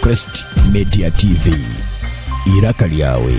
Crest Media TV. Iraka lyawe.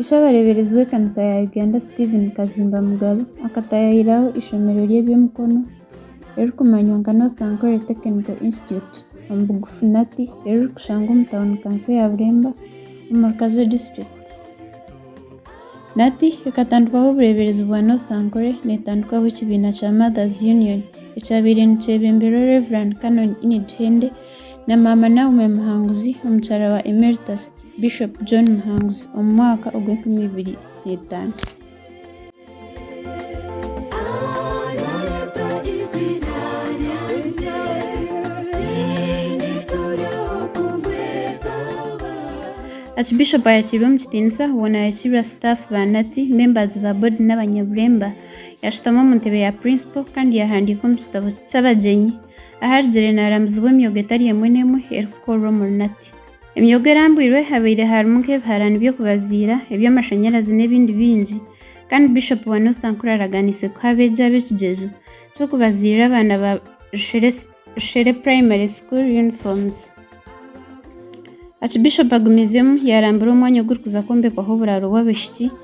Ishe abareeberezi b'ekanisa ya Uganda Stephen Kazimba Mugabe akataayaayiraho eishomero ry'eby'emikono eririkumanywa nka North Ankole Technical Institute, omu bugufu Nati, eririkushangwa omu tauni kanso ya Bureemba omu Murkazo District. Nati ekatandikwaho obureeberezi bwa North Ankole neetandikwaho ekibiina kya Mothers Union ekyabaire nikyebemberwa Rev. Canon Enid Hende na Maama Naomi Muhanguzi omukyara wa Emeritus. Bishop John Muhanguzi omu mwaka ogw'enkumi ibiri na itaano. Archbishop ayakirwe omu kitiinisa hoona yakirwa staff ba Nati, members ba board n'abanyaburemba. Yashutama omu ntebe ya principal kandi yahandiika omu kitabo ky'abagyenyi aharugire naramuzibwa emyoga etari emwe n'emwe erikukorwa omuri Nati. Emyogo erambwirwe habaire harimu nk'ebiharani by'okubaziira, eby'amashanyarazi n'ebindi bingi kandi Bishop wa North Ankuru araganiise kuha abeegi abo ekigyezo ky'okubaziirira abaana ba Rushere Rushere Primary School Uniforms. Archbishop agumiizemu yaarambura omwanya ogurikuza kwombekwaho oburaaro bw'abaishiki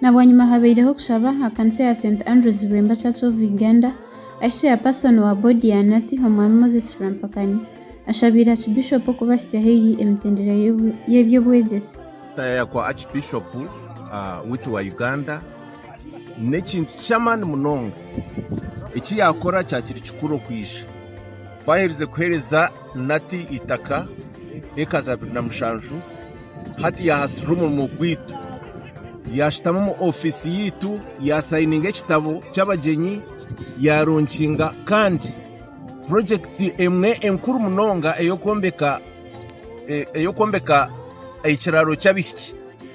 Nabwanyima habaireho okushaba aha kanisa ya St Andrews Lwemba Church of Uganda ahi Chairperson wa Board ya NATI Omwami Moses Rwampakani ashabiire Archbishop okubahitsya haihi emitendera y'eby'obwegyese. Kutaayaaya kwa Archbishop waitu wa Uganda n'ekintu ky'amaani munonga. Eki yaakora kyakiri kikuru okwija ku aherize kuheereza. Nati itaka eka za abiri na mushanju, hati yaahasirira omurimo gwaitu. Yaashutama omu ofiisi yaitu, yaasayininga ekitabo ky'abagyenyi, yaaronkinga kandi purojekiti emwe enkuru munonga ey'okwombeka ekiraaro ky'abaishiki.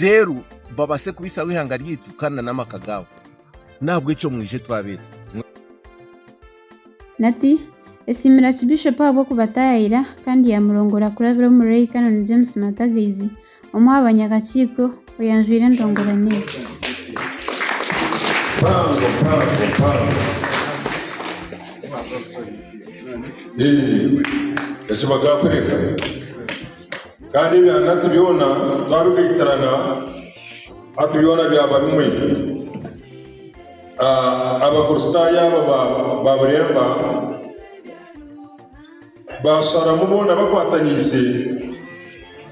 reero babaase kubisaho eihanga ryaitu kandi n'amaka gaabo. N'ahabw'ekyo mwije twabeete. Nati, esiimire Achibishopu ahabw'okubataayaayira kandi yaamurongora kurabira omuri Ray Canon James Matagaizi, omwe aha banyakakiiko, oyanjwire endongorane egi. Eki bagaakureka. Kandi ebyangati byona twabigaitirana, hati byona byaba bimwe. Abakristaayo abo baaburemba, baasharamu boona bakwataniise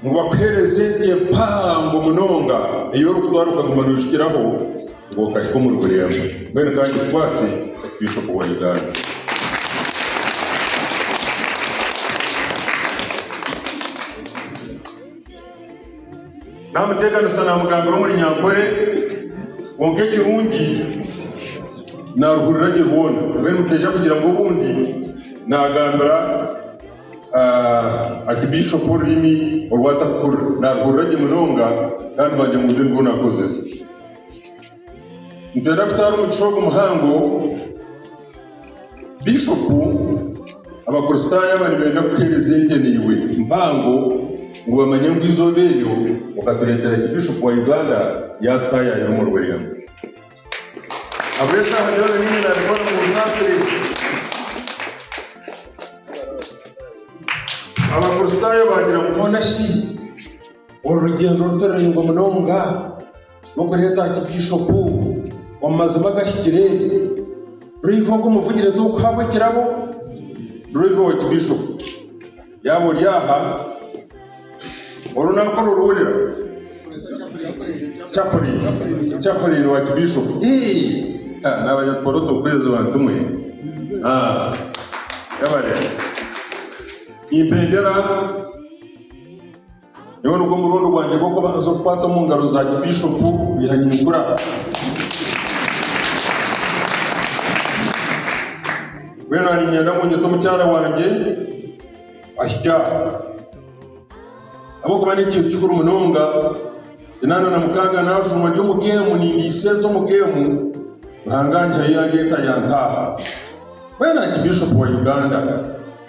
ngu bakuheereze ente mpango munonga ei orikutwara okaguma noijukiraho. Bwokahika omuri Bureema, mbwenu ka ngikwatse Bishop wa Uganda. Namuteekanisa namugambira omuri Nyankore, kwonka ekirungi naruhurira gye rwona, mbwenu mutaija kugira ngu obundi nagambira ah, Archbishop orurimi oru atakuhurira. Naruhurira gye munonga, kandi baagira ngu nirwe nirwo nakozesa. Nitwenda kutwara omugisha ogu muhango Bishopu Abakristaayo aba nibenda kuheereza enteneirwe mpango ngu bamanye ngu eizooba eryo okatureetera ki Bishopu wa Uganda yaatutaayayira omu rwendo. Ahabw'eshaaha byona nyine naabikora mu busaasire. Abakristaayo baagira ngu hoona shi? Oru rugyendo ruto ruraingwa munonga rw'okureeta aha kibyishopu omu mazima agahikire ruriho ogu muvugire tookuhabwa ekirabo ruraiha owa kibyishopu. Yaaba ori aha, oru naakora oruhurira. Chaplain, chaplain wa kibyishopu. Eeh! Ah, naabaja tukore oturukwezi bantu mwe. Ah, yabare. Nimpa endera. Nyowe nigwo murundi gwangye gw'okubanza okukwata omu ngaro za Kibishopu Bihanyimkura. Mbwenu aha niinyenda ngu nyete omukyara wangye ahike aha. Ahabw'okuba n'ekintu kikuru munonga, kinaana na mukaaga naajumwa ndi omu geemu nindiha esente omu geemu, Ruhanga anyihayo yandeeta yantaaha. Mbwenu aha Kibishopu wa Uganda.